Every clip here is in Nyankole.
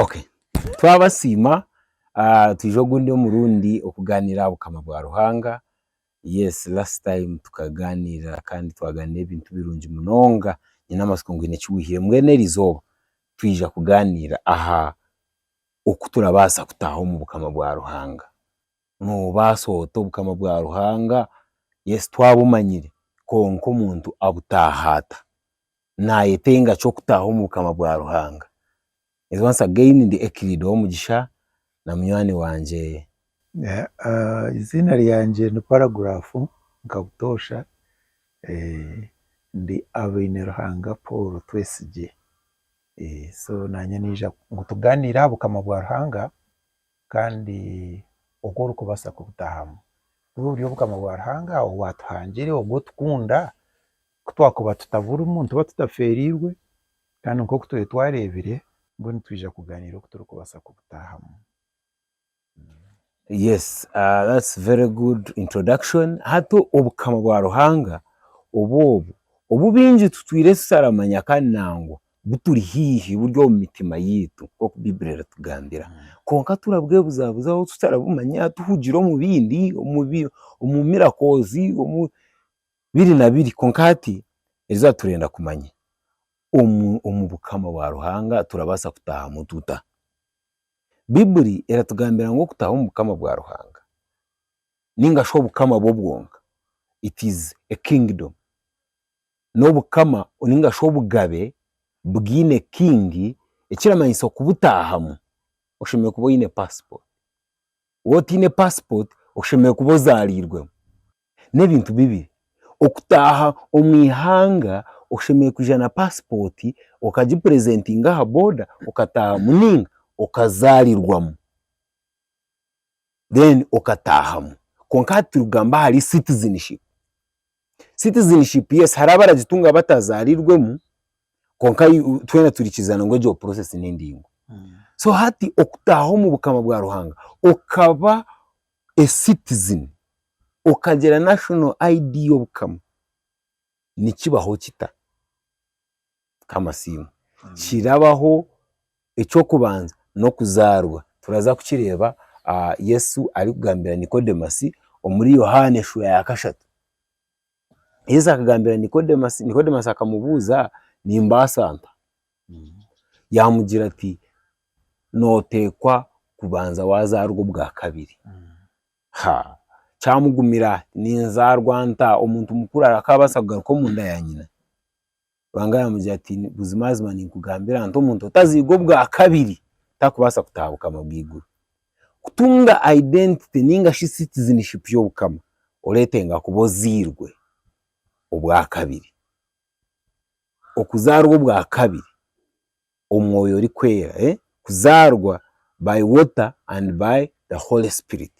Ok, twabasiima twija ogundi omurundi okugaaniira aha bukama bwa Ruhanga, yes last time tukagaaniira kandi twagaaniira ebintu birungi munonga, nyine amatsiko ngu haine eki wihire, mbwenu eri izooba twija kugaaniira aha oku turabaasa kutaaha omu bukama bwa Ruhanga. noobaasa ota obukama bwa Ruhanga? Yesu twabumanyire, kwonka omuntu abutaaha ata? Naayetenga ki okutaaha omu bukama bwa Ruhanga? As once again ndi Euclid Owomugisha na munywani wangye. Eiziina ryangye ni Paragraph Nkabutoosha, ndi aha Baineruhanga Paul Twesigye. So naanye naija ngu tugaaniire aha bukama bwa Ruhanga. kandi oku orikubaasa kubutahamu. Obwo buri obukama bwa Ruhanga owaatuhangire ogu otukunda, ku twakuba tutaburimu nituba tutafeereirwe kandi nk'oku twire twareebire mbwenu twija kugaaniira oku turikubaasa kubutahamu. Yes that's very good introduction, hati obukama bwa Ruhanga obwobu, obu baingi tutwire tutaramanya kandi nangwa buturi haihi, buri omu mitima yaitu nk'oku Baiburi eritugambira. Kwonka turabwebuzabuzaho, tutarabumanya, tuhugire omu bindi, omu bi, omu miracles, omu biri na biri. Kwonka hati Eliza aturenda kumanya omu omu Bukama bwa Ruhanga turabaasa kutaahamu tuta. Baiburi eratugambira ngu okutaaha omu Bukama bwa Ruhanga, nainga shi Obukama bwo bwonka, it is a kingdom. n'obukama ninga shi obugabe bwine king ekiramanyisa okubutaahamu oshemereire kuba oyine passport, waaba otiine passport oshemereire kuba ozariirwemu, n'ebintu bibiri, okutaaha omu ihanga oshemereire kwija na passport okaji presentinga aha boda okataahamu ninga okazarirwamu then okataahamu kwonka aha turi kugamba ahari citizenship Citizenship yes hariho abaragitunga batazarirwemu kwonka twena turikizana ngu egyo process nendingwa. So hati okutaha omu bukama bwa Ruhanga okaba a citizen okagira national ID yobukama nikibaho kita? nk'amasiimwe. Kirabaho eky'okubanza n'okuzaarwa. Turaza kukireeba Yesu arikugambira Nikodemasi omuri Yohaana eshura ya kashatu. Yesu akagambira Nikodemasi, Nikodemasi akamubuuza nimbaasa nta? Yaamugira ati nooteekwa kubanza waazaarwa obwa kabiri. Ha, kyamugumira ninzaarwa nta omuntu mukuru arikaabaasa kugaruka omu nda ya nyina? Ruhanga yaamugira ati buzimazima ninkugambira nti omuntu otaziirwe obwa kabiri takubaasa kutaaha bukama bw'eiguru. Kutunga identity ninga shi citizenship y'obukama oretenga kuba oziirwe obwa kabiri. Okuzaarwa obwa kabiri. Omwoyo Orikwera, eh, kuzaarwa by water and by the Holy Spirit,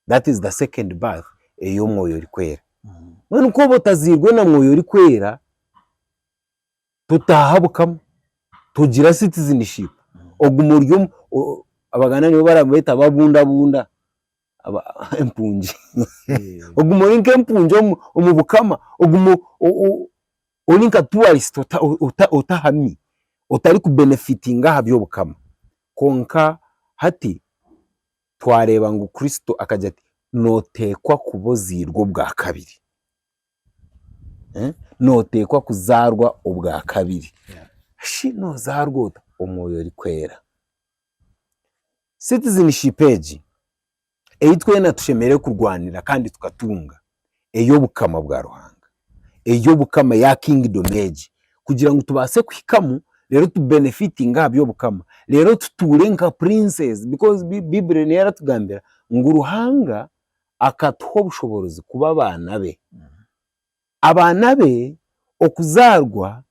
that is the second birth ey'Omwoyo Orikwera. Mbwenu ku oba otaziirwe na Mwoyo Orikwera, totaaha Bukama, togira citizenship, oguma ori omu, Abaganda nibo barabeeta ababundabunda, aba, empungi, oguma ori nk'empungi omu, omu Bukama, oguma o, o, Ori nka tuwarisiti otahami, otarikubenefitinga aha by'Obukama. Kwonka hati twareeba ngu Kristo akagira ati, Nooteekwa kuba oziirwe obwa kabiri. Nooteekwa kuzaarwa obwa kabiri. Shi noozaarwa ota? Omwoyo Orikwera. Sitizininshipu egi, ei twena tushemereire kurwanira kandi tukatunga, ey'Obukama bwa Ruhanga, ey'Obukama, ya Kingdom egi, kugira ngu tubaase kuhikamu reero tu benefitinge aha by'Obukama, reero tutuure nka princes because Baiburi niyo eratugambira ngu Ruhanga akatuha obushoboorozi kuba abaana be. Abaana be okuzaarwa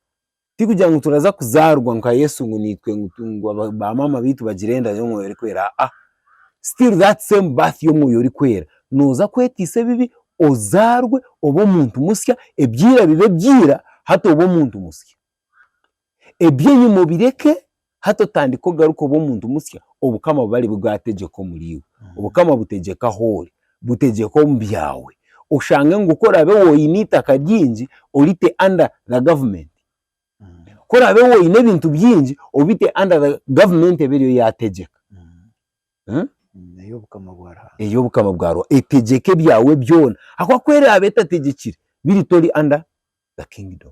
Tikugira ngu turaza kuzaarwa nka Yesu ngu naitwe ngu ba maama baitu bagire enda y'omwoyo orikwera aa, still that same birth y'omwoyo orikwera noza kwetiisa ebibi ozaarwe obe omuntu musya ebyaira bibe byaira hati obe omuntu musya ebyenyima obireke Hati otandike ogaruke obe omuntu musya, Obukama bubale bwategyeka omuri iwe. Obukama butegyeka ahu ori, butegyeka omu byawe. Oshange ngu ku oraabe woine eitaka ryingi, orite under the government. Ku oraabe woine ebintu byingi, obite under the government eba eriyo yaategyeka. Ey'Obukama bwa Ruhanga. Ey'Obukama bwa Ruhanga. Etegyeke ebyawe byona. Ahabw'okuba ku eraabe etategyekire, biri tori under the kingdom.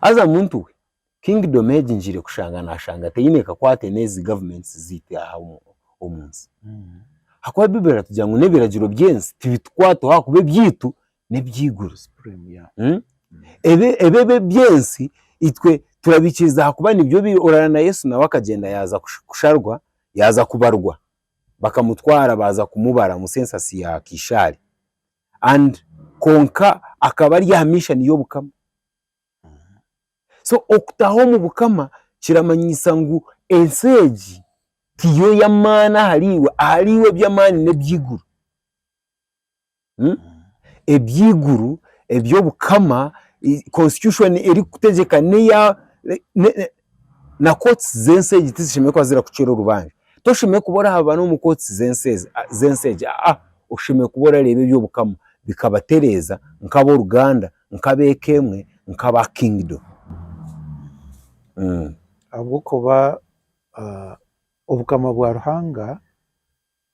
Haza muntu we, kingdom egi ngiire kushanga nashanga teine ekakwate nezi governments zeitu aha omu nsi. Hakuba bible eratugira ngu nebiragiro byensi tibitukwatwaho ahakuba ebyeitu nebyeiguru. Supreme, yeah. Ebi ebi ebyensi itwe turabikiriza ahakuba nibyo biri, orara na Yesu nawe akagyenda yaza kush- kusharwa, yaza kubarwa, bakamutwara baza kumubara omu census ya Kishari. and kwonka akaba ari aha mission y'obukama. So okutaho omu bukama kiramanyisa ngu ensi egi tiyo ey'amaani ahari iwe, ahari iwe eby'amaani n'eby'eiguru. Eby'eiguru, eby'obukama, constitution erikukutegyeka n'eya na courts z'ensi egi tizishemereire kuba zirakucwera orubanja, toshemereire kuba orahabana omu courts z'ensi ezi z'ensi egi aa, oshemereire kuba orareeba eby'obukama bikabatereeza nk'ab'oruganda, nk'ab'eka emwe, nk'aba kingdom. Ahabw'okuba Obukama bwa Ruhanga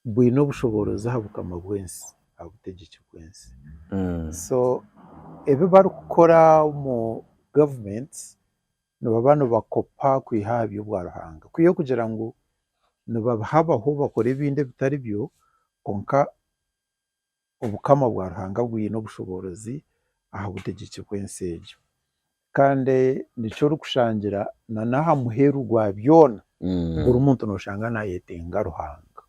bwine obushoboorozi aha bukama bw'ensi, aha butegyeki bw'ensi. So ebi barikukora omu gavumenti nibaba nibakopa kwiha aha by'obwa Ruhanga. Kwiha okugira ngu nibabihabaho bakore ebindi ebitari byo, kwonka Obukama bwa Ruhanga bwine obushoboorozi aha butegyeki bw'ensi egyo. Kandi nikyo orikushangira n'aha muheru gwa byona, buri muntu nooshanga naayetenga Ruhanga.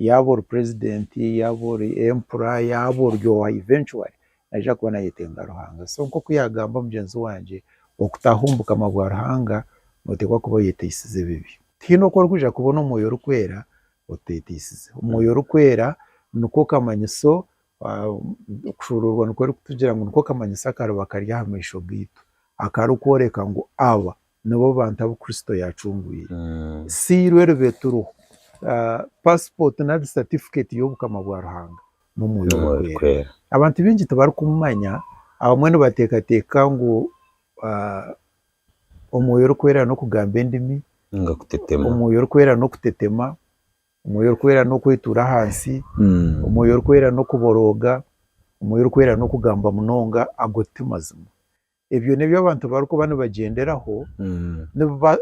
Yaaba ori purezidenti, yaaba ori empura, yaaba ori owa eventually, naija kuba naayetenga Ruhanga. So nk'oku yaagamba mugyenzi wangye, okutaaha omu Bukama bwa Ruhanga, nooteekwa kuba oyeteisize ebibi. Tihaine oku orikwija kubona Omwoyo Orikwera oteeteisize. Omwoyo orikwera nikwo kamanyiso, okushuuruurwa nikwo orikutugira ngu nikwo kamanyiso akariba kari aha maisho gaitu akarikworeka ngu aba nibo bantu abu Kristo yaacungwire. Siirwe eribe turiho, paasipooti nari satifikeeti y'Obukama bwa Ruhanga n'omwoyo orikwera. Abantu baingi tibarikubimanya, abamwe nibateekateeka ngu Omwoyo Orikwera n'okugamba endimi. Ninga kutetema. Omwoyo Orikwera n'okutetema. Omwoyo Orikwera n'okwetuura ahansi. Omwoyo Orikwera n'okuborooga. Omwoyo Orikwera n'okugamba munonga. Ago ti mazima. Ebyo n'ebi abantu barikuba nibagyenderaho.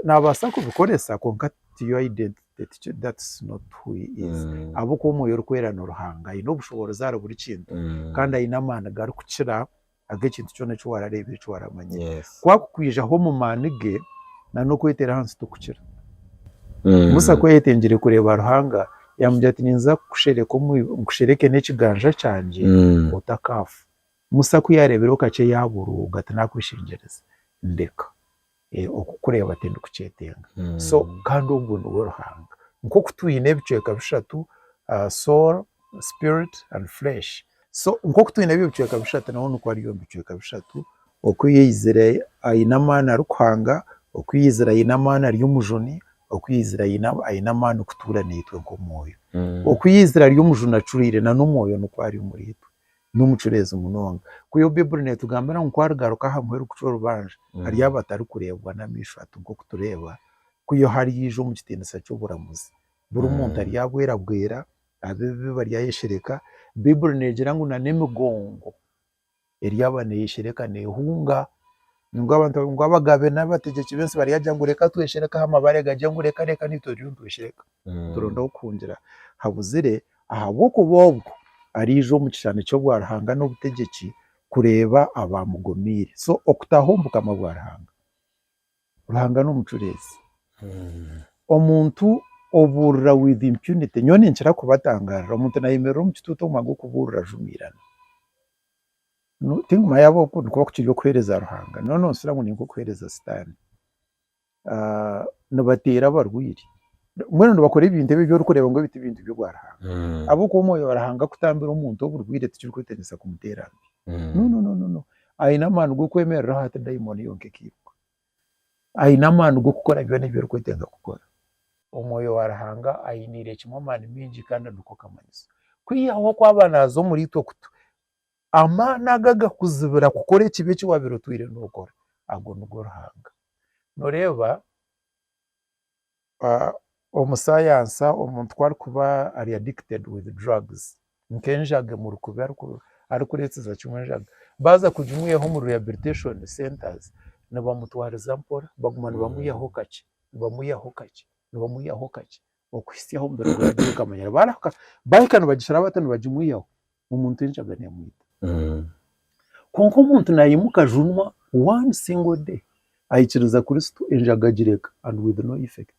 Naabaasa kubikoresa kwonka ti yo identity, that's not who he is. Ahabw'okuba Omwoyo Orikwera ni Ruhanga. Aine obushoboorozi ahari buri kintu. Kandi aine amaani garikukira. ag'ekintu kyona eki waarareebire, eki waaramanyire. Yes. Ku akukwijaho omu maani ge, na n'okweteera ahansi tikukira. Mm. Musa ku ayetengire kureeba Ruhanga, yaamugira ati, Ninza kukushereka omu nkushereke n'ekiganja kyangye, Mm. otakaafa. Musa ku yaareebireho kakye yaaburwa, obwo ati, Naakweshengyereza. Ndeka. eh, okukureeba tindikukyetenga Mm. so kandi ogwo niwe ruhanga nk'oku twine ebicweka bishatu ah, soul spirit and flesh so nk'oku twine ebyo bicweka bishatu nawe nikwo ari omu bicweka bishatu oku yaizire aine amaani arikuhanga oku yaizire aine amaani ari omujuni oku yaizire aine aine amaani kutuura naitwe nk'omwoyo Mm. oku yaizire ari omujuni acuriire na n'omwoyo nikwo ari omuri itwe n'omucureezi munonga. Ku yo Baiburi neetugambira ngu ku arigaruka aha muheru kucwa orubanja ahari abo atarikureebwa n'amaisho hati nk'oku tureeba, ku yo hariija omu kitiinisa ky'oburamuzi, buri muntu aryabwerabwera, ab'ebibi baryayeshereka. Baiburi neegira ngu na n'emigongo eryaba neeyeshereka neehunga. Ngu abantu ngu abagabe n'abategyeki b'ensi baryagira ngu reka tweshereke aha mabare gagye ngu reka reka naitwe turiyo nitweshereka. Niturondaho kuhungira ha buzire ahabw'okuba obwo araija omu kishushani ky'obwa Ruhanga n'obutegyeki kureeba abaamugomiire. So okutaha omu bukama bwa Ruhanga. Ruhanga n'omucureezi. Omuntu obuurira with impunity. Nyowe ninkira kubatangaarira. Omuntu naayemerera omu kituutu omu mwanya gw'okubuurira ajumiirana. Tingimanya yaaba oku nikwo kiri okuheereza Ruhanga. Nyowe noonsira ngu ninkwo kuheereza sitaane. nibateera abarwaire mbwenu nibakora ebintu ebi orikureeba ngu ebi tibintu by'obwa Ruhanga ahabw'okuba omwoyo wa Ruhanga kutambira omuntu oburwaire tikirikwetengyesa kumuteera mbi nonononono aine amaani g'okwemereraho ati dayimooni yonka ekairuka aine amaani g'okukora byona ebi orikwetenga kukora omwoyo wa Ruhanga ainiire kimwe amaani maingi kandi niko kamanyisa kwihaho ku aba naaza omuriitwe Amaani agu agakuzibira kukora ekibi eki waabaire otwire nookora, ago nigo Ruhanga. Nooreeba omu sayansa omuntu ku arikuba ari addicted with drugs nk'enjaga omuri kubi arikureetsiza kimwe enjaga, baaza kugimwihaho omu rehabilitation centres, nibamutwariza mpora, baguma nibamwihaho kakye, nibamwihaho kakye, nibamwihaho kakye. okuhitsya ahu omubiri gwe gukamanyira. Baarahuka, baahika nibagishara bata? Nibagimwihaho. Omuntu enjaga neemwita. Mm. Kwonka omuntu naimuka ajunwa one single day, aikiriza Kristo, enjaga agireka and with no effect.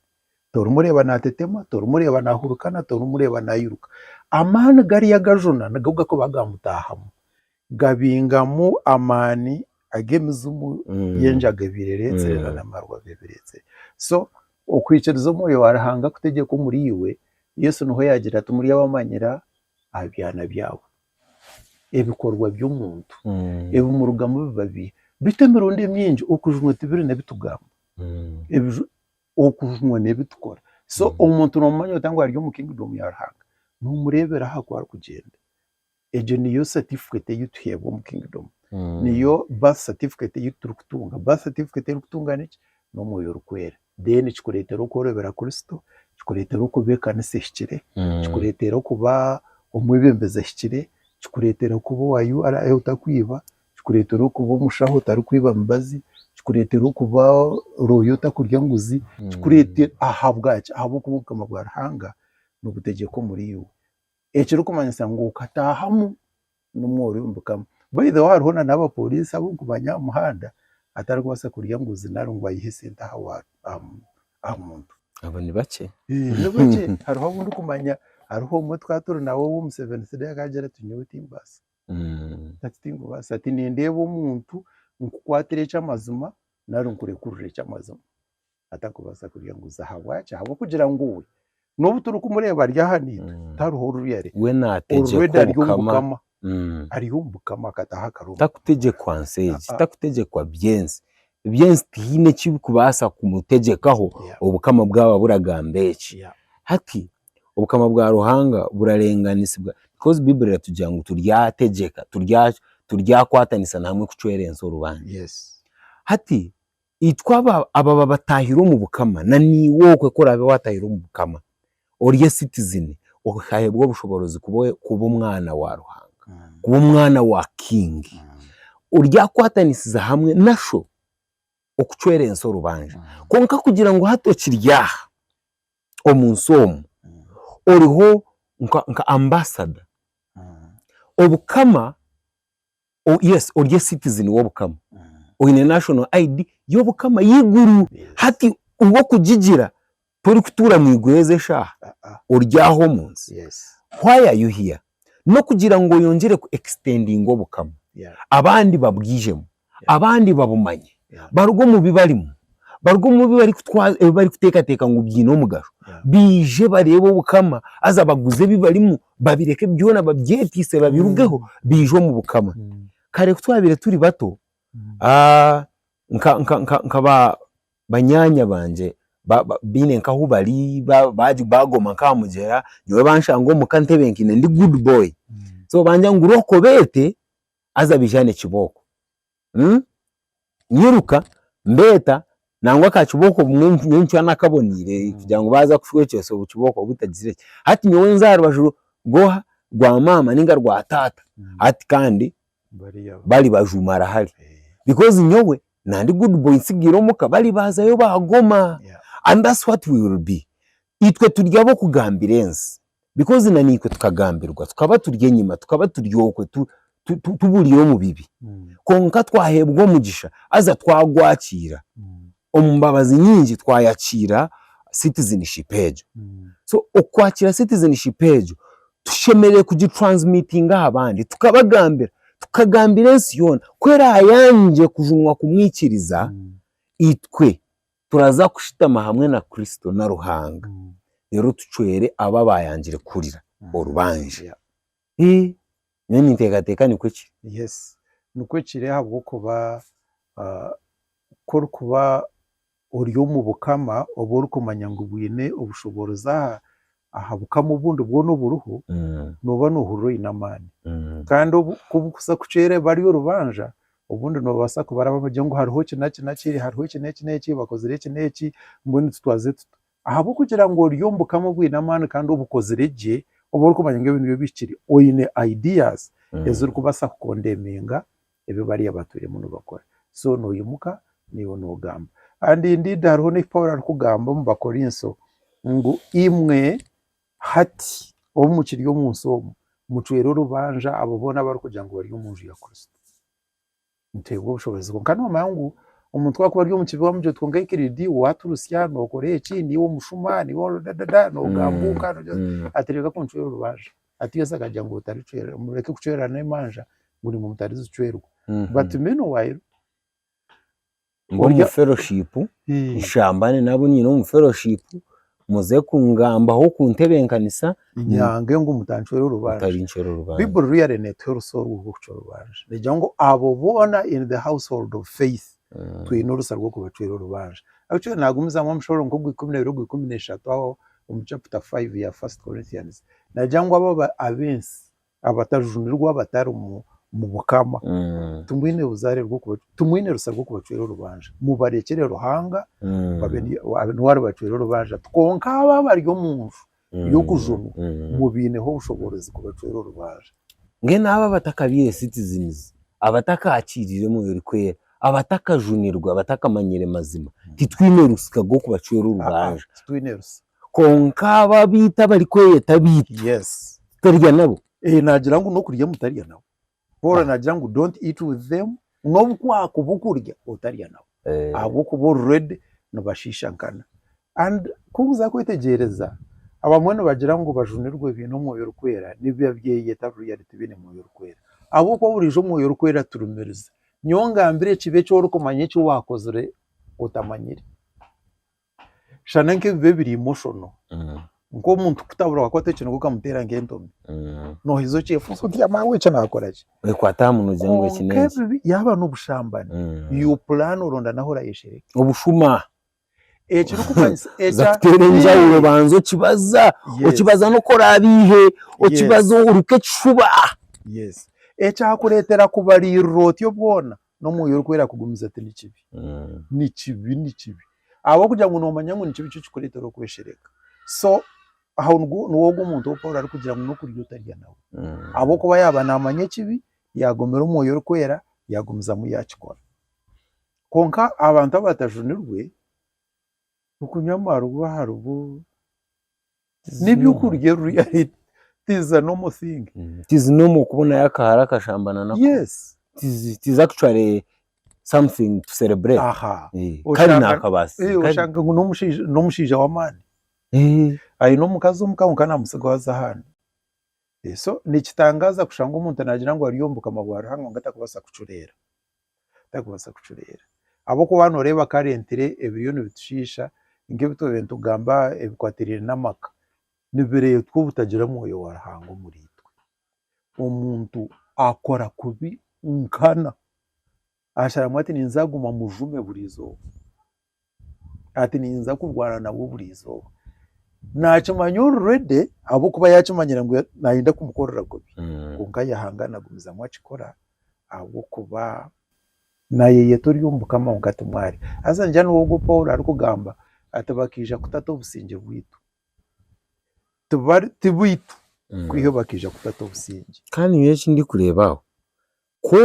Torimureeba naatetema, torimureeba naahurukana, torimureeba nairuka. Amaani gariya gajuna nigo gakuba gaamutaahamu. Gabingamu amaani ag'emizimu y'enjaga ebaire ereetserera n'amarwa aga ebaire ereetserera. So okwikiriza Omwoyo wa Ruhanga kutegyeka omuriiwe, Yesu niho yaagira ati, Muri abamanyira aha byana byabo. Ebikorwa by'omuntu ebimurugamu biba bi. Beitu emirundi emiingi okujunwa tibiri n'ebitugamba, okujunwa n'ebitukora. So omuntu noomumanya ota ngu ari omu Kingidomu ya Ruhanga? Noomureebera aha ku arikugyenda. Egyo niyo certificate ei tuheebwa omu kingdom. Niyo birth certificate ei turikutunga. Birth certificate erikutunga niki? N'omwoyo orikwera. Then kikureetera okworobera Kristo, kikureetera okuba ekanisa ehikire, kikureetera okuba omwebembezi ahikire, kikureetera okuba owa ura otarikwiba, kikureetera okuba omushaho otarikwiba mibazi, kikureetera okuba rooya otakurya nguzi, kikureetera ahabwaki? Ahabw'okuba obukama bwa Ruhanga nibutegyeka omuri iwe. ekirikumanyisa ngu okataahamu n'omwoyo omubikamwe. Baitu hariho n'abapooriisi abu okumanya aha muhanda atarikubaasa kurya nguzi nari ngu aihe esente aha muntu. Abo ni bakye. Nibakye. Hariho abu ndikumanya, hariho omwe twaba turi nawe ow'omu Seventh Day akaagira ati, nyowe timbaasa. Ati tinkubaasa. Ati nindeeba omuntu nkukwatire eky'amazima nari nkurekurire eky'amazima. atakubaasa kurya nguzi. Ahabwaki? Ahabw'okugira ngu we n'obu turikumureeba ari aha naitwe, Mm. tihariho oruri ari. We Orureda naategyeka ari omu obukama. Bukama. Mm. Ari omu Bukama, akataho akari omu Takutegyekwa nsi egi, Ah, ah. takutegyekwa by'ensi. Eby'ensi tihaine eki birikubaasa kumutegyekaho, Yeah. obukama bwaba buragamba eki. Yeah. Hati obukama bwa Ruhanga burarenganisibwa because Baiburi eratugira ngu turyategyeka, turya- turyakwatanisa na hamwe kucwera ensi orubanja. Yes. Hati itwe ababa batahirwe omu bukama, na naiwe okwe ku orabe watahirwe omu bukama, ori a citizen, okahebwa obushoborozi kuba omwana wa Ruhanga, kuba omwana wa King, oryakwatanisiza hamwe nasho okucwera ensi orubanja. Kwonka kugira ngu hati okiri aha omu nsi omu, oriho nka ambassador, obukama O, yes, ori esitizini w'Obukama. Oine National ID y'Obukama y'eiguru. Hati, ngu okugigira, torikutuura mu iguru ezi eshaaha. Ori aha omu nsi. Why are you here? N'okugira ngu oyongyere ku extendinga Obukama. Abandi babwijemu. Abandi babumanye. Baruge omu bi barimu. Baruge omu bi barikutwa, ebi barikuteekateeka ngu biine omugasho. Baije bareebe Obukama, haza baguze ebi barimu, babireke byona babyeteise babirugeho baije omu bukama. Kare ku twabaire turi bato, nka- nka- nka- nka ba- banyaanya bangye ba- ba- baine nkahu bari, ba- baagye baagoma nk'aha mugyera, nyowe banshanga omu ka ntebe nkaine ndi good boy, so bangire ngu rooka obeete haza baije hane ekibooko. Nyiruka mbeeta nangwa ka kibooko obumwe nyowe nakaboniire kugira ngu baaza kushwekyesa obu kibooko obu butagizire ki. Hati nyowe nza aha rubaju rw'oha, rwa maama ninga rwa taata hati kandi bari bajumara hari because nyowe nandi good boy nsigaire omuka bari baazayo baagoma and that's what we will be. Itwe turi ab'okugambira ensi Because na naitwe tukagambirwa, tukaba turi enyima, tukaba turi okwe, tu- tu- tu- tuburire omu bibi. Mm. Kwonka twaheebwa omugisha haza twagwakiira, Mm. omu mbabazi nyingi twayakiira citizenship egyo. Mm. So okwakiira citizenship egyo, tushemereire kugi transmitinga aha bandi, tukabagambira, tukagambira ensi yoona ku erayangye kujunwa kumwikiriza, Mm. itwe turaza kushutama hamwe na Kristo na Ruhanga Mm. reero tucwere abo abaayangire kuhurira Mm. orubanja. Yeah. Hee, nyowe ninteekateeka nikwo kiri. Yes. Nikwo kiri ahabw'okuba ah, ku orikuba ori omu Bukama obu orikumanya ngu bwine obushoboorozi aha, aha bukama obundi bwona oburiho, nooba noohurira oine amaani. Kandi obu ku bukuza kucweera bari orubanja, obundi noobaasa kubaraba bagire ngu hariho eki naki naki, hariho eki n'eki n'eki, bakozire eki n'eki, mbwenu tutwaze tuta. Ahabw'okugira ngu ori omu bukama obwine amaani kandi obukozire gye, oba orikumanya ngu ebi nibyo bihikire, oine ideas ezirikubaasa kukondeminga ebi bariya batwiremu nibakora. So noyimuka naiwe nogamba. And indeed hariho n'ebi Paulo arikugamba omu Bakorinso ngu imwe hati obu mukiri omu nsi omu mucwera orubanja abo boona abarikugira ngu bari omu nju ya Kristo. Nituheebwa obushobozi kwonka nomanya ngu omuntu wakuba ari omu kibiina mugye oti kwonka ekiridi waturusya nokora eki, niiwe omushuma, niiwe da da da nogambuuka ati reka kuncwera orubanja. Hati Yesu akagira ngu otaricwererwa, mureke kucwererana emanja ngu nimwe mutarizicwerwa. Mhm. But meanwhile, Ndi omu orya- fellowship Eh, nshambane nabo nyine omu fellowship muze kungambaho kuntebenkanisa nyange ngu mutancwera orubanja. mutarincwera orubanja Bible really netuha orusa orwo rw'okucwa orubanja. Negira ngu abo boona in the household of faith Mm. twine orusa rw'okubacwera orubanja. Actually nagumizamu omushoro nk'ogw'ikumi nebiri ogw'ikumi n'eshatu aho omu chapter five ya first Corinthians nagira ngu abo aba- ab'ensi abatajunirwa abatari mu mu bukama Mm. timwine buzaare rw'okuba timwine rusa rw'okubacwera orubanja mubarekyere Ruhanga Mm. babe ni- wa- niwe aribacwera orubanja kwonka abo abari omu nju Mm. y'okujunwa Mm. mubaineho obushoboorozi kubacwera orubanja mbwenu abo abatakabaire citizens abatakakiirire mwoyo orikwera Abatakajunirwe, abatakamanyire mazima, titwine rusika gw'okubacwera Ah, ah, orubanja. titwine rusa. Kwonka abo abaitu abarikweyeta abaitu, Yes. tutarya nabo. Eh, nagira ngu n'okurya mutarya nabo. Paul nagira ngu don't eat with them, n'obu kwakuba okurya otarya nabo. Eh, ahabw'okuba already nibashiishankana. And ku orikuza kwetegyereza, abamwe nibagira ngu bajunirwe baine omwoyo orikwera, nibabyeyeta ruyari tibaine mwoyo orikwera. Ahabw'okuba burijo omwoyo orikwera aturumirize, Nyowe ngambire ekibi eki orikumanya eki waakozire otamanyire. Shana nk'ebibi ebiri imoshono. Nk'omuntu kutabura wakwata ekiniga okamuteera nk'entomi. Noheza okyefunsa oti yamaawe eki naakora ki? Oyekwata aha munwa ogira ngu eki n'eki. Nk'ebibi yaaba n'obushambani. You plan oronda n'ahu orayeshereke. Obushuma. ekirikumanyisa Oza ekya kuteera enjawulo Hey! banza okibaza, Yes. okibaza n'oku oraabe ihe, okibaza ori nk'ekishuba. Yes. Ekyakureetera kubariirira otyo bwona n'omwoyo orikuba yakugumiza ati ni kibi. Ni kibi, ni kibi. Ahabw'okugira ngu noomanya ngu ni kibi nikyo kikureetera okweshereka. So aho nigwo niwe ogwo muntu ou Paulo arikugira ngu n'okurya otarya nawe. Ahabw'okuba yaaba naamanya ekibi, yaagomera omwoyo orikwera, yaagumizamu yaakikora. Kwonka abantu abatajunirwe tikunywa amarwa haribo n'eby'okurya really tiza normal thing. Mm, it is normal kubonayo akahara akashambana nako Yes. it is, it is actually something to celebrate Aha. Eh, Oshanga- kari nakabaasi Eh, kari- oshanga ngu n'omushaija n'omushaija w'amaani Eh, aine omukazi omu ka kwonka naamutsigaho aza ahandi. Eh, So nikitangaaza kushanga omuntu naagira ngu ari omu bukama bwa Ruhanga kwonka atakubaasa kucureera. tarikubaasa kucureera ahabw'okuba waaba nooreeba karentire ebiriyo nibitushiisha nk'ebi twabire nitugamba ebikwatiraine n'amaka, nibireetwa obutagira mwoyo wa Ruhanga omuriitwe. Omuntu akora kubi nkana, asharamu ati ninza kuguma mujume buri izooba, ati ninyija kurwana nawe buri izooba naakimanya oruredi ahabw'okuba yaakimanyire ngu naayenda kumukorera kubi mm. kwonka yahanga nagumizamu akikora ahabw'okuba naayeyeta ori omu bukama kwonka timwari haza ngira niwe ogwo paulo arikugamba ati bakaija kutata obusingye bwaitu tibari tibwaitu mm. kwiha bakaija kutata obusingye kandi nyowe eki ndikureeba aho ku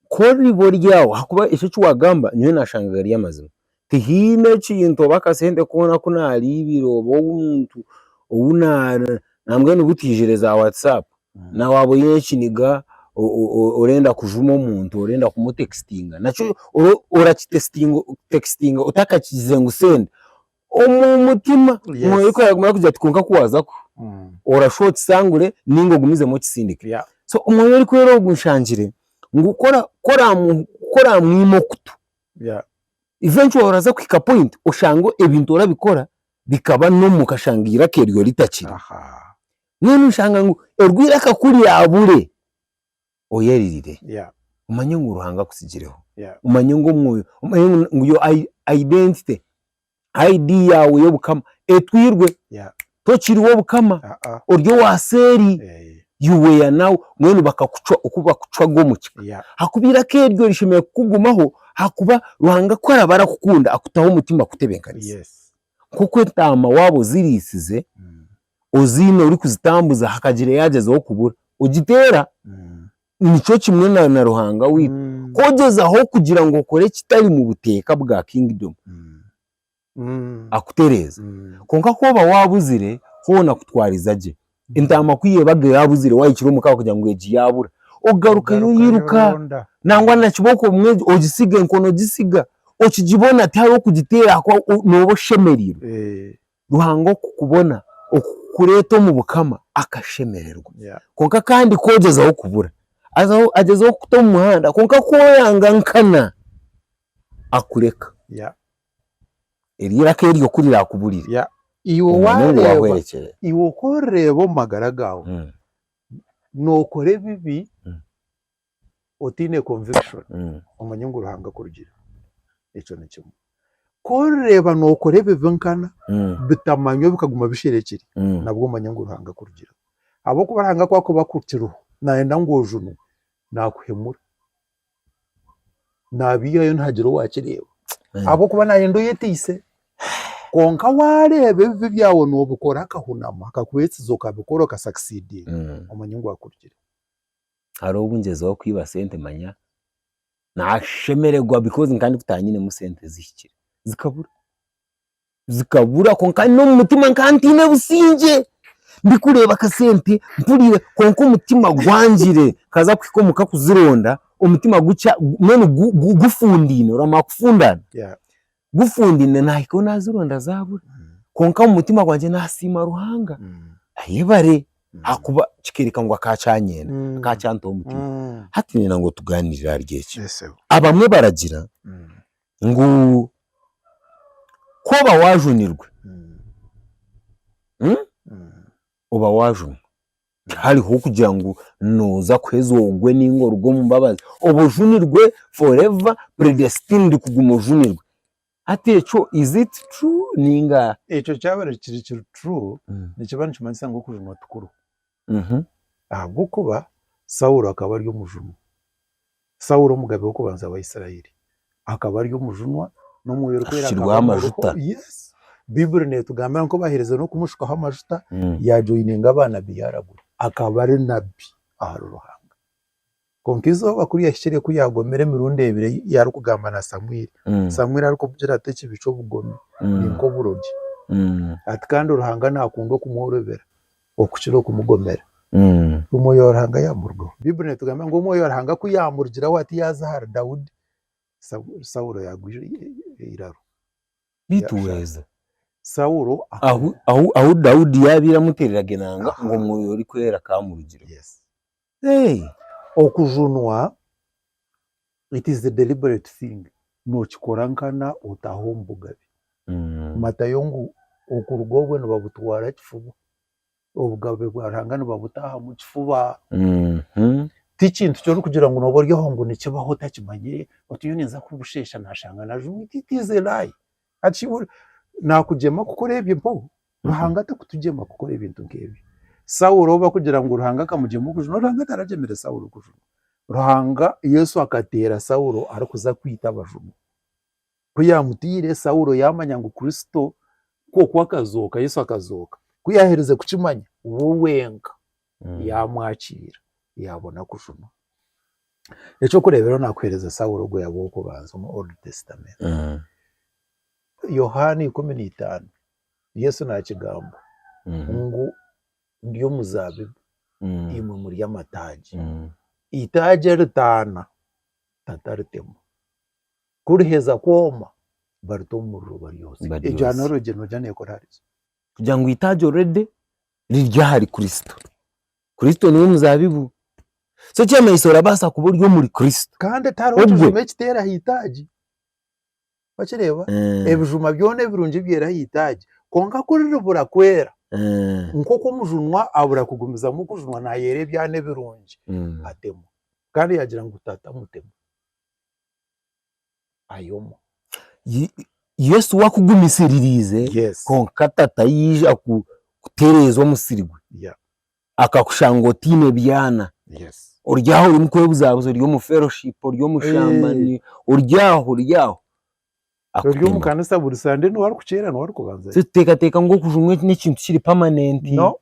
Ku oriba ori aho, ahakuba eki eki waagamba nyowe naashanga gari amazima. Tihaine ekintu oba akasente koona aku naariibire oba omuntu ou naari, nambwenu butaizire za WhatsApp, na waaba oine ekiniga orenda kujuma omuntu, orenda kumutekisitinga, nakyo orakitestinga otakakigizire ngu senda, omu mutima Yes. mwoyo ku yaguma arikugira ati kwonka ku waaza ku Mm. orashuha okisangure ninga ogumizemu okisindike Yeah. so omwoyo orikwera ogu nshangire ngu ku ora- ku oramu- ku oramwima okutu Yeah. eventually oraza kuhika point oshange ebintu orabikora bikaba normal okashanga eiraka eryo ritakiri Aha. mbwenu oshanga ngu erwo eiraka ku ryabure oyeririre, Yeah. omanye ngu Ruhanga akutsigireho, Yeah. omanye ngu omwoyo, omanye ngu ngu your i- identity, ID yaawe y'obukama etwirwe, Yeah. tokiri w'obukama, Ah, ah. ori owa seeri, Eh, you were now, mbwenu bakakucwa oku bakucwaga omu kika. yeah. Ahakuba eiraka eryo rishemereire kukugumaho, ahakuba Ruhanga ku araba arakukunda akutaho omutima kutebeekanisa. Yes. Nk'oku entaama waaba oziriisize, Mm. oziine orikuzitambuza hakagira eyagyezaho kubura ogiteera, nikyo kimwe na Ruhanga waitu ku ogyezaho kugira ngu okore ekitari mu buteeka bwa Kingdom akutereeza kwonka ku oba waabuzire hoona kutwariza gye entaama ku yeebaga yaabuzire waahikire omuka bakagira ngu egi yaabura ogarukayo oyiruka nangwa na kibooko ogitsiga enkoni ogitsiga okigibona tihariho kugiteera ahabw'okuba nooba oshemereirwe. Ruhanga okukubona, okukureeta omu bukama akashemererwa. Yeah. Kwonka kandi ku ogyezaho kubura, azaho agyezaho kukuta omu muhanda kwonka ku oyanga nkana akureka. Yeah. Eryo iraka eryo ku rirakuburire, Yeah. Iwe omanye ngu waareeba waahwerekyerera. iwe ku orireeba omu magara gaawe Mm. nookora ebibi Mm. otaine conviction omanye ngu Ruhanga akurugire. Ekyo ni kimwe. Ku orikureeba nookora ebibi nkana bitamanywa bikaguma bisherekire, nabwo omanye ngu Ruhanga akurugire. Ahabw'okuba Ruhanga ku arikuba akukiriho naayenda ngu ojunwe, naakuhemura. Naabeihayo nihagira owaakireeba. Ahabw'okuba naayenda oyeteise. Kwonka waareeba ebibi byawe noobikora akahunama akakuhweetsiza okabikora okasakisidinga, omanye ngu akurugire. hariho obu ngyezaho kwiba sente manya naashemererwa because nkaba ndikutaaha nyinemu sente zihikire, zikabura, zikabura kwonka n'omu mutima nkaba ntaine busingye, ndikureeba akasente mpurire kwonka omutima gwangire, nkaza kuhika omuka kuzironda omutima gukya mbwenu gu- gu- gufundaine, oramanya kufundaana? Gufundine naahika ou naazironda zaabura. Kwonka omu mutima gwangye naasiima Ruhanga. Ayebare ahakuba kikeereka ngu akaakyanyenda, akaakyantaho omutima. Hati niinyenda ngu tugaaniire ahari eki. Abamwe baragira ngu ku oba waajunirwe, oba waajunwa. tihariho kugira ngu nooza kuheza ogwe nainga oruga omu mbabazi, oba ojunirwe forever predestined kuguma ojunirwe, hati ekyo is it true nainga. Ekyo kyabaire kiri kiri true nikiba nikimanyisa ngu okujunwa tikuriho ahabw'okuba Saulo akaba ari omujunwa. Saulo omugabe w'okubanza wa Israeli akaba ari omujunwa n'omwoyo orikwera akaba ari omurofa. Baiburi netugambira ngu kubaherize n'okumushukaho amajuta yajoyininga abanabi yaragura. Akaba ari nabi ahari Ruhanga. Kwonka eizooba ku ryahikire ku yagomire emirundi ebiri eyi arikugamba na Samuiri, Samuiri arikugira ati ekibi ky'obugomi ni nk'oburogi. Ati kandi Ruhanga nakunda okumworobera okukira okumugomera. Omwoyo wa Ruhanga yaamurugaho. Baiburi neetugambira ngu omwoyo wa Ruhanga ku yaamurugiraho ati yaaza ahari Daudi, Saulo yaagwa eiraro. Beitu weeza. Saulo ahu Daudi yaabaire amuteereraga enanga ngu omwoyo orikwera akaamurugireho. Hey okujunwa it is a deliberate thing nokikora nkana otaha omu bugabe matayo ngu okuruga obwe nibabutwara kifuba obugabe bwa Ruhanga nibabutahamu kifuba tikintu kyorikugira ngu noba oryaho ngu nikibaho otakimanyire oti nyowe ninza kubushesha nashanga najunwa it is a lie. Hati iwe naakugyema kukora ebyo mpaho? Ruhanga tarikutugyema kukora ebintu nk'ebyo. Saulo obu barikugira ngu Ruhanga akamugyema okujunwa, Ruhanga taragyemire Saulo okujunwa. Ruhanga, Yesu akateera Saulo arikuza kwita abajunwa. Ku yaamutaire, Saulo yaamanya ngu Kristo, nk'oku akazooka, Yesu akazooka. Ku yaaherize kukimanya, we wenka yaamwakiira, yaabona kujunwa. Eky'okureeberaho naakuheereza Saulo ogwo yaaba ow'okubanza omu Old Testament. Yohaana ikumi na itaano, Yesu naakigamba ngu ndi omuzaabibu, imwe muri amataagi. Eitaagi eritaana tataritema, ku riheza kwoma barita omu muriro baryosya. Egyo analogy noogira neekora hari ki? Kugira ngu eitaagi orirye riri ahari Kristo. Kristo niwe muzaabibu. So ekyemanyiso orabaasa kuba ori omuri Kristo. Kandi tihariho Ogwo. kijuma ekiteera aha itaagi. Okireeba? Eh, Ebijuma byona ebirungi byera aha itaagi. Kwonka ku riribura kwera, eh, nk'oku omujunwa abura kugumizamu kujunwa naayeera ebyana ebirungi, mm. atemwa. Kandi yaagira ngu, Tata mutema. ayomo. Ye- Yesu waakugumisiririize Yes. kwonka tata yaija ku- kutereeza omusiri gwe, Yeah. akakushanga otaine byana, Yes. ori aho orimu kwebuzaabuza ori omu fellowship, ori omu Eh. shambani, ori aho ori aho. Ori omu Akutemba. kanisa buri sande niwe arikuceera niwe arikubanzayo. Titeekateeka ngu okujungu eki n'ekintu kiri permanent. No.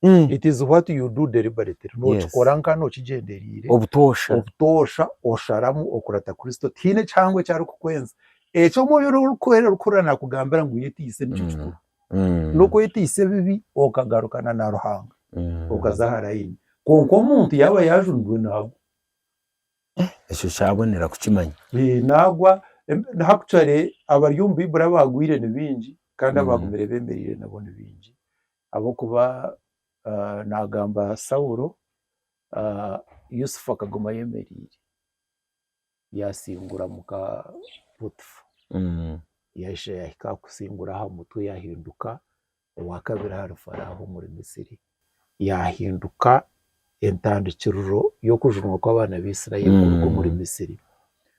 Mm. it is what you do deliberately nokikora nkana okigyendereire Obutoosha. obutoosha osharamu okurata kristo tihaine ekihango eki arikukwenza eki omwoyo ori- orikuhwera orikuhurira nakugambira ngu yetiise nikyo Mm. kikuru Mm. nokwetiisa ebibi okagarukana na ruhanga Mm. okaza aha layini kwonka omuntu yaaba yajunirwe nagwa Ekyo kyabonera kukimanya. Eh, nagwa em- hakucware abari omu baiburi abagwire ni baingi kandi Mm. abagumire bemereire nabo ni baingi Ahabw'okuba naagamba Saulo, Yusufu akaguma ayemereire, yaasingura muka Potifa. Yaija yaahika aha kusingura aha mutwe yaahinduka owaakabiri ahari Faraaho omuri Misri. Yaahinduka entandikiriro y'okujunwa kw'abaana b'Israeli kuruga omuri Misri.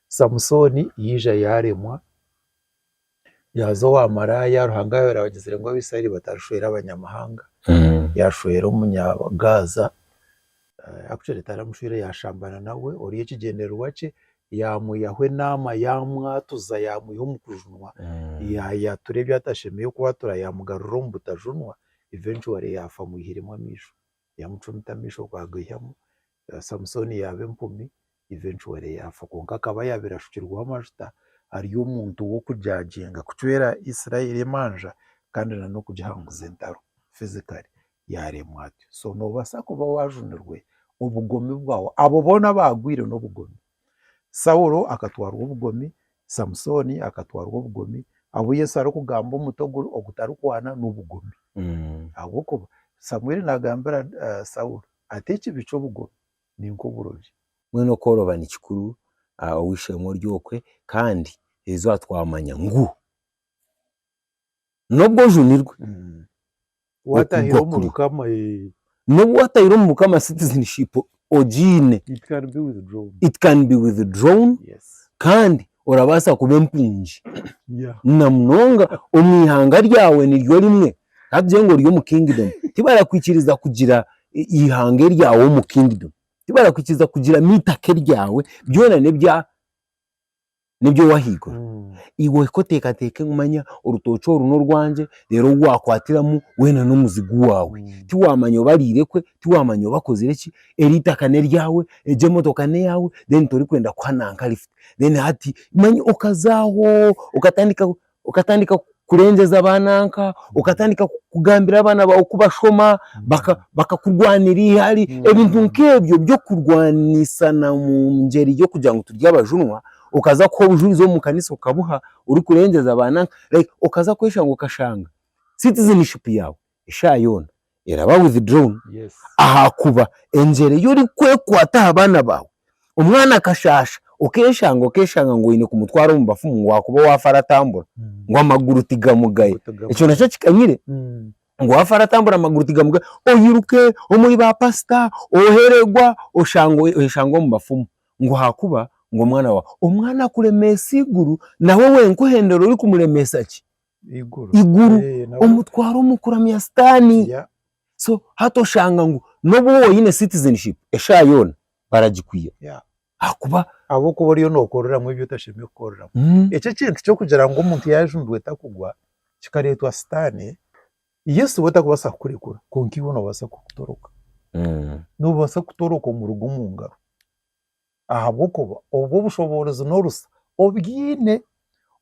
Samusooni yaija yaaremwa Yaaza owa maraaya, Ruhanga yaabaire abagizire ngu Abaisraeli batarishwera Abanyamahanga, yaashwera Omunyagaaza, arikucwera taramushwire yaashambana nawe ori ekigyendererwa kye, yaamwihaho enaama, yaamwatuza, yaamwiha omu kujunwa, yaayatura ebi atashemereire kwatura, yaamugarura omu butajunwa, eventually yaafa amwihiremu amaisho. yamucumita amaisho gaagaihamu. Samusooni yaaba empumi, eventually yaafa. Kwonka akaba yaabaire ashukirweho amajuta, ari omuntu w'okujaaginga, kucwera Israeli emanja kandi nan'okugihanguza entaro physically yaaremwa atyo. So noobaasa kuba waajunirwe obugomi bwaawe, abo boona abaagwire n'obugomi. Saulo akatwarwa obugomi, Samusooni akatwarwa obugomi, abu Yesu arikugamba omuti ogutarikwana n'obugomi. Ahabw'okuba Samueli naagambira Saulo ati, Ekibi ky'obugomi ni nk'oburogi. Mbwenu okworoba ni kikuru, Oweishe-emwe ori okwe, kandi eizooba twamanya ngu. N'obu ojunirwe, Mm. Waatahire omu kuri. Mukama, eh, n'obu waatahire omu Mukama citizenship ogiine, it can be withdrawn. it can be withdrawn Yes. kandi orabaasa kuba empungi. Yeah. na munonga omu ihanga ryawe niryo rimwe katugire ngu ori omu kingdom tibarakwikiriza kugira i- ihanga eryawe omu kingdom tibarakwikiriza kugira n'eitaka eryawe byona n'ebya n'ebi owahaiguru iwe ohika oteekateeke ngu manya orutookye oru n'orwangye reero ogu waakwatiramu weena n'omuzigu waawe tiwaamanya oba ariire kwe tiwaamanya oba akozire ki eri itaka n'eryawe egyo emotoka n'eyaawe then torikwenda kuha nanka lifuti then hati manya okazaaho okatandika Okatandika kurengyeza ba nanka, okatandika kugambira abaana baawe kubashoma, bakakurwanira eihari, ebintu nk'ebyo by'okurwanisana omu ngyeri y'okugira ngu turi abajunwa, okaza kuha obujurizi omu kanisa okabuha orikurengyeza ba nanka, okaza kweshanga okashanga citizenship yaawe eshaaha yoona eraba withdrawn Yes. ahakuba engyera ei orikwekwata aha baana baawe omwana akashaasha okeeshanga okeeshanga ngu oine kumutwara omu bafumu ngu waakuba waafa aratambura Mm. ngu amaguru tigamugaye Ngu tigamugaye. ekyo nakyo kikanyire Mm. ngu waafa aratambura amaguru tigamugaye oyiruke omuri ba pasita oheregwa oshanga oyeshanga omu bafumu ngu ahakuba ngu omwana waawe omwana akuremeesa eiguru nawe wenka ohendera orikumuremeesa ki iguru iguru Eh, nawe- omutwaro omu kuramya sitaani Yeah. so hati oshanga ngu n'obu woba oine citizenship eshaaha yoona baragikwiha Yeah. ahakuba ahabw'okuba oriyo nookoreramu ebi otashemereire kukoreramu mm, eki ekintu ky'okugira ngu omuntu yaajundwa etakugwa kikareetwa sitaane yes we takubaasa kukurekura kwonka iwe noobaasa kukutoroka mm, noobaasa kutoroka omuruga omu ngaro ahabw'okuba obwo bushoboorozi n'orusa obyine,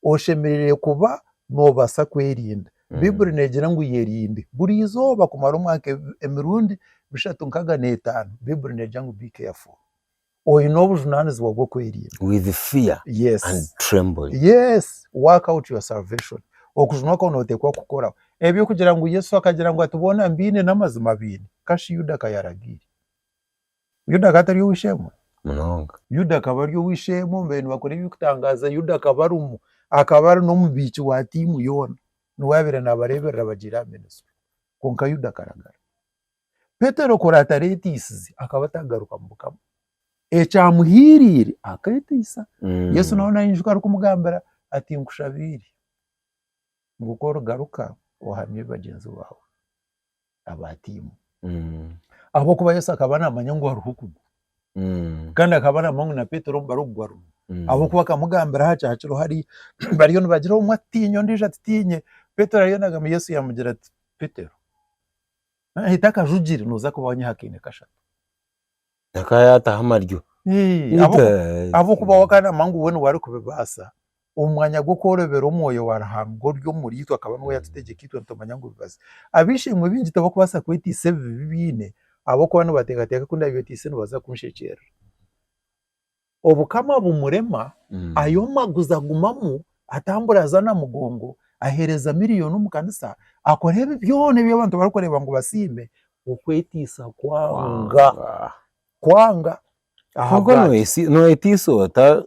oshemereire kuba noobaasa kwerinda. Baiburi neegira ngu yerinde buri izooba kumara omwaka emirundi bishatu nkaaga n'etaano. Baiburi neegira ngu be careful. Oine obujunaanizibwa bw'okwerinda. With fear and trembling. Yes, work out your salvation. Okujunwa kwawe nooteekwa kukoraho. Eby'okugira ngu Yesu akagira ngu ati boona mbiine n'amazima abiine, kashi Yuda akayaragiire? Yuda akaba atari ow'eishe-emwe? Munonga! Yuda akaba ari ow'eishe-emwe omu baabaire nibakora eby'okutangaaza. Yuda akaba arimu. Akaba ari n'omubiiki wa tiimu yoona. Niwe yaabaire naabareeberera bagiire aha minisyo. Kwonka Yuda akaragara. Petero kuraatareeteisize, akaba ataagaruka mu Bukama. Ekyamuhiriire akeeteisa. Yesu nawe naijuka arikumugambira ati, Nkushabeire ngu ku origaruka ohamye bagyenzi baawe. abaatiimwa. Ahabw'okuba Yesu akaba naamanya ngu hariho okugwa. Kandi akaba naamanya ngu na Petero omu barikugwa arimu. Ahabw'okuba akamugambira aha kyaha kiriho hariya. Bariyo nibagira omwe atiine ondiijo ati, Tiinye. Petero ariyo naagamba, Yesu yaamugira ati, Petero, hati akajugire nooza kuba waanyiha akaine kashatu. Aka yaataho amaryo. Ii, Ute- ahabw'oku- ahabw'okuba waagamba ngu we niwe arikubibaasa, omu mwanya gw'okworobera Omwoyo wa Ruhanga ori omuriitwe akaba niwe yaatutegyeka itwe nitumanya ngu bibaasa. Ab'eishe-emwe baingi tibarikubaasa kwetiisa ebibi bi baine ahabw'okuba nibateekateeka ku ndaabibeteise nibaza kunshekyeerera. Obukama bumurema, ayomaguza agumamu, atambura aza na mugongo, ahereza miriyoni omu kanisa, akora ebi byona ebi abantu barikureba ngu basiime, okwetiisa kwanga. Kwanga. Kwonka noyetiisa ota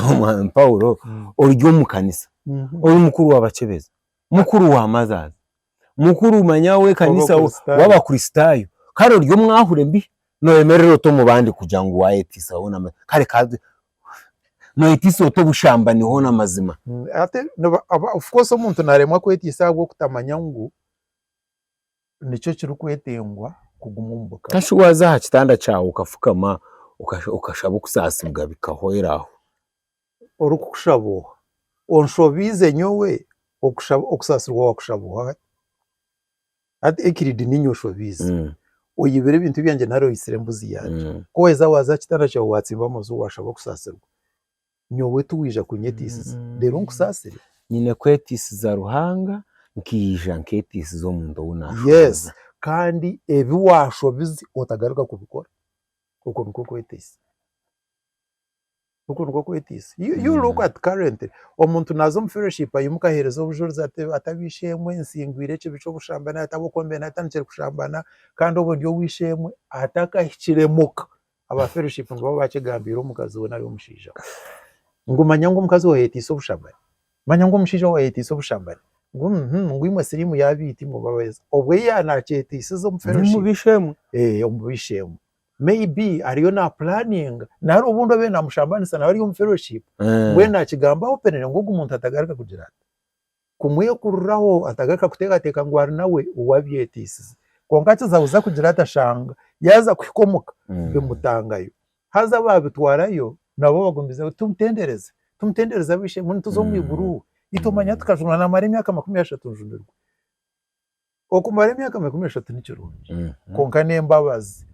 omwaami Paulo ori omu kanisa, ori mukuru w'abacebezi, mukuru w'amazaazi? mukuru manya ow'ekanisa Ow'Abakristaayo. w'Abakristaayo kare ori omwahure mbi noyemerera ota omu bandi kugira ngu wayetiisa hoona ama- kare ka noyetiisa ota obushambani hoona amazima. Mm, hati niba aba of course omuntu naaremwa kwetiisa ahabw'okutamanya ngu nikyo kirikwetengwa kuguma omu bukama. Tashi waaza aha kitanda kyawe okafukama okasha- okashaba okusaasibwa bikahwera aho. orikukushaba oha? Onshobiize nyowe okusaasirwa waakushaba oha hati? Hati ekiridi niinye oshobiize, oibire ebintu byangye nari oitsire embuzi yangye. Ku waaheza waaza aha kitanda kyangye waatsimba amaju waashaba okusaasirwa, nyowe tiwaija kunyeteisiza reero nkusaasire? Nyine kweteisiza Ruhanga nkaija nketeisiza omuntu ou naashobiize. Kandi ebi waashobiize otagaruka kubikora, okwo nikwo kweteisa. Oku nikwo kwetiisa. You, you look at currently, omuntu naaza omu fellowship aimuka aheereza obujurizi ati ataba ishe-emwe nsingwire ekibi ky'obushamba nari ataba okwombi natandikire kushambana kandi obwe ndi ow'eishe-emwe atakahikire muka aba fellowship nibaba baakigambiire omukazi we nari omushaija we ngu manya ngu omukazi waawe yetiisa obushambani, manya ngu omushaija waawe yetiisa obushambani ngu uhmm ngu imwe siriimu y'abaiti imwe babaheeza. Obwe yaaba naakyetiisize omu Ni mu fellowship, bishe-emwe. eeh omu bishe-emwe. maybe ariyo na planinga nari obundi obe namushambanisa nabari omu fellowship mbwenu akigamba openly ngu ogu muntu atagaruka kugira ata kumwekururaho atagaruka kutekateka ngu ari nawe owabyetisize kwonka akiza kuza kugira ata shanga yaza kuhika omuka bimutangayo haza babitwarayo nabo bagumizaho tumutendereze tumutendereze abishemwe nituza omwiguru itwe manya tukajunwa namara emyaka makumi ashatu njumirwe. Okumara emyaka makumi eshatu ni kirungi, kwonka n'embabazi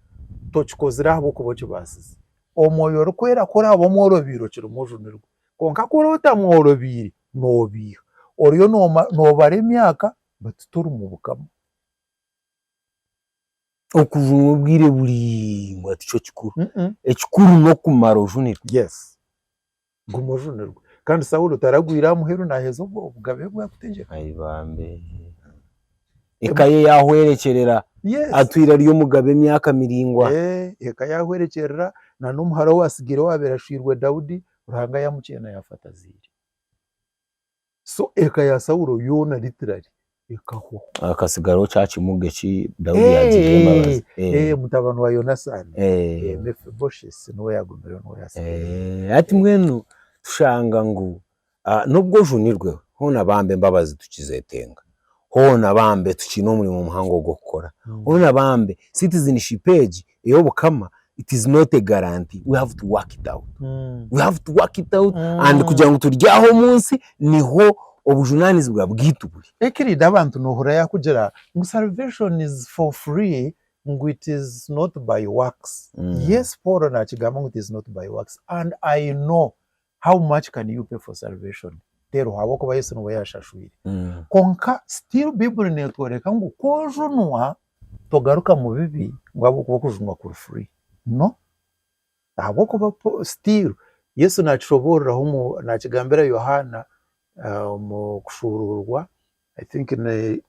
tokikozire ahabw'okuba okibaasize. Omwoyo orikwera ku oraabe omworobeire okiri mujuni rwe, kwonka ku oraabe otamworobeire noobiiha. Oriyo noobara emyaka baitu tori mu Bukama. Okujunwa obwire buraingwa tikyo kikuru, ekikuru n'okumara ojunirwe. Guma ojunirwe. Kandi Saulo taragwire aha muheru naheza obwo obugabe bwe akutegyeka. Ayi bambi. Eka ye yahwerekyerera. Yes. Atwire ari omugabe emyaka miringwa. Eeh, eka yahwerekyerera, na n'omuhara owatsigaire owabire ashwirwe Daudi, Ruhanga yamukyena yafataziire. So eka ya Saulo yoona literally ekahwaho. Hakatsigaroho kya kimuga eki Daudi yaagiirira embabazi. Eh, eh, Eh, mutabani wa Yonasaani. eh. Eh, Mefiboshesi niwe yaagumireho niwe yaasigaireho. Eh, hati mbwenu tushanga ngu ah, n'obu ojunirweho, hoona bambi embabazi tukizeetenga. hoona bambe tukiine omurimo muhango ogw'okukora hoona bambe citizenship egi ey'obukama it is not a guarantee we have to work it out we have to work it out and kugira ngu turi aho omu nsi niho obujunanizibwa bwaitu buri. Ekiriida abantu nohurira yakugira ngu salvation is for free ngu it is not by works yes Paul nakigamba ngu it is not by works and I know how much can you pay for salvation? Teeruho ahabw'okuba Yesu niwe yaashashwire. Kwonka still Baiburi neetworeka ngu ku ojunwa togaruka mu bibi ngu ahabw'okuba okujunwa kuri free. No. Ahabw'okuba still Yesu naakishoboorora omu, naakigambira Yohaana omu kushuuruurwa I think ni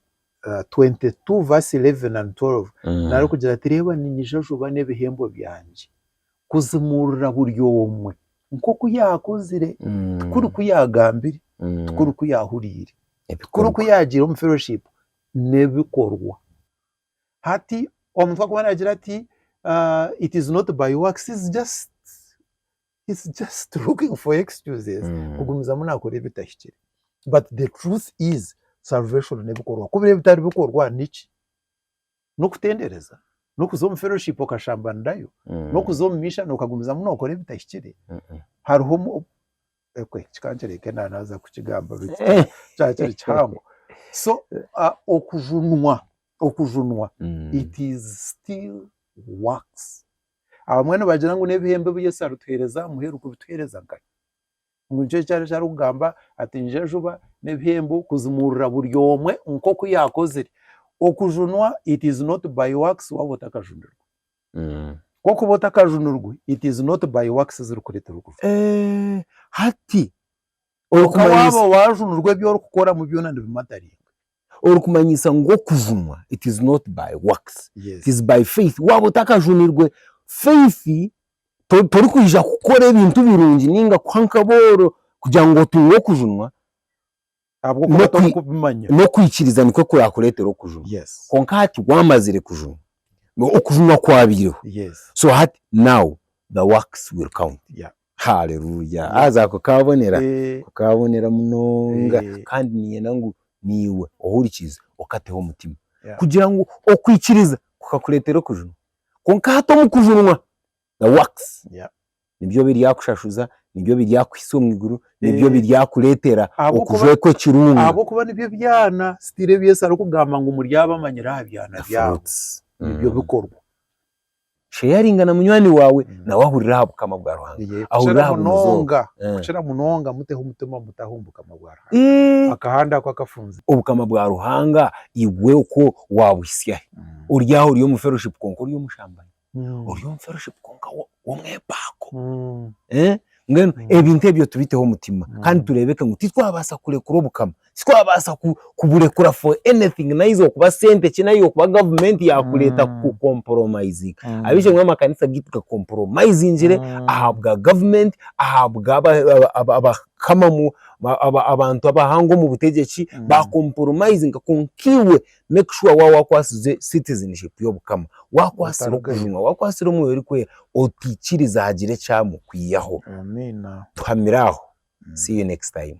uh, 22 verse 11 and 12 Mm. narikugira ati reeba ninyijajuba n'ebihembo byangye kuzimuurira buri omwe nk'oku yaakozire Mm. tikuri ku yaagambire Mm. tikuri ku yaahuriire kuri Ebikorwa. ku yaagiire omu fellowship n'ebikorwa hati omuntu akuba naagira ati ah, it is not by works is just he's just looking for excuses mm. kugumizamu nakora ebitahikire but the truth is salvation nebikorwa kubira ebitari bikorwa niki nokutendereza nokuza omu fellowship okashambanirayo mm. nokuza omu mission okagumizamu nokora ebitahikire hariho ekwe kikankyereke nanaza kukigamba kyakiri kihango so uh, okujunwa okujunwa mm. it is still works Abamwe nibagira ngu n'ebihembo ebi Yesu arituheereza aha muheru kubituheereza Nkai. Ngu nikyo eki arikugamba ati, Nja juba n'ebihembo kuzimuurira buri omwe nk'oku yaakozire. Okujunwa, it is not by works waaba otakajunirwe. Ku orikuba otakajunirwe, it is not by works ezirikureetera okujunwa. Hati, Kwonka waaba waajunirwa ebi orikukoramu byona nibimataringa. Orikumanyisa ngu okujumwa it is not by works, it is by faith. Waaba otakajunirwe, faith torikwija kukora ebintu birungi ninga kuha nkabooro kugira ngu otunge okujunwa, n'okwikiriza nikwo kurakureetera okujunwa. Kwonka hati waamazire kujunwa, okujunwa kwabaireho, so hati now the works will count. Haleluya! Haza ako kaabonera, Eh, ako kaabonera munonga. Eh. Kandi niinyenda ngu naiwe ohurikiize okateho omutima. Yeah. Kugira ngu okwikiriza kukakureetera okujunwa. Kwonka hati omu kujunwa, the works, Yeah. nibyo biryakushashuza, nibyo biryakuhitsya omu iguru, nibyo Eh. biryakureetera Ahabw'okuba- okujwekwa ekirunga. ahabw'okuba nibyo byana sitiire ebi Yesu arikugamba ngu muryabamanyira aha byana byabo Fruits. nibyo Mm. bikorwa Sheyaringa na munywani waawe nawe ahurire aha bukama bwa Ruhanga. Ahurire aha munonga, kukira munonga muteho omutima mutahe omu bukama bwa Ruhanga. Akahanda ako akafunzire. Obukama bwa Ruhanga iwe okwo wabuhisyahi? Ori aho ori omu fellowship kwonka ori omushambani. Ori omu fellowship kwonka w'omwepaako. Mbwenu ebintu ebyo tubiteho omutima kandi tureebeke ngu titwabaasa kurekura obukama. titwabaasa kuburekura for anything neither okuba sente ki neither okuba gavumenti yaakureeta Mm. kukukomporomayizinga. Mm. Ab'eishe-emwe amakanisa gaitu gakomporomayizingire Mm. ahabwa gavumenti, ahabwa aba- aba- aba- abakama mu- aba- aba- abantu abahanga omu butegyeki Mm. baakomporomayizinga kwonka iwe Make sure waaba waakwasize citizenship y'Obukama, waakwatsire Batarugayo. okujunga, waakwatsire Omwoyo Orikwera, otaikiriza hagira ekyamukwihaho. Amiina. Tuhamire aho. See you next time.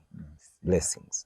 Blessings.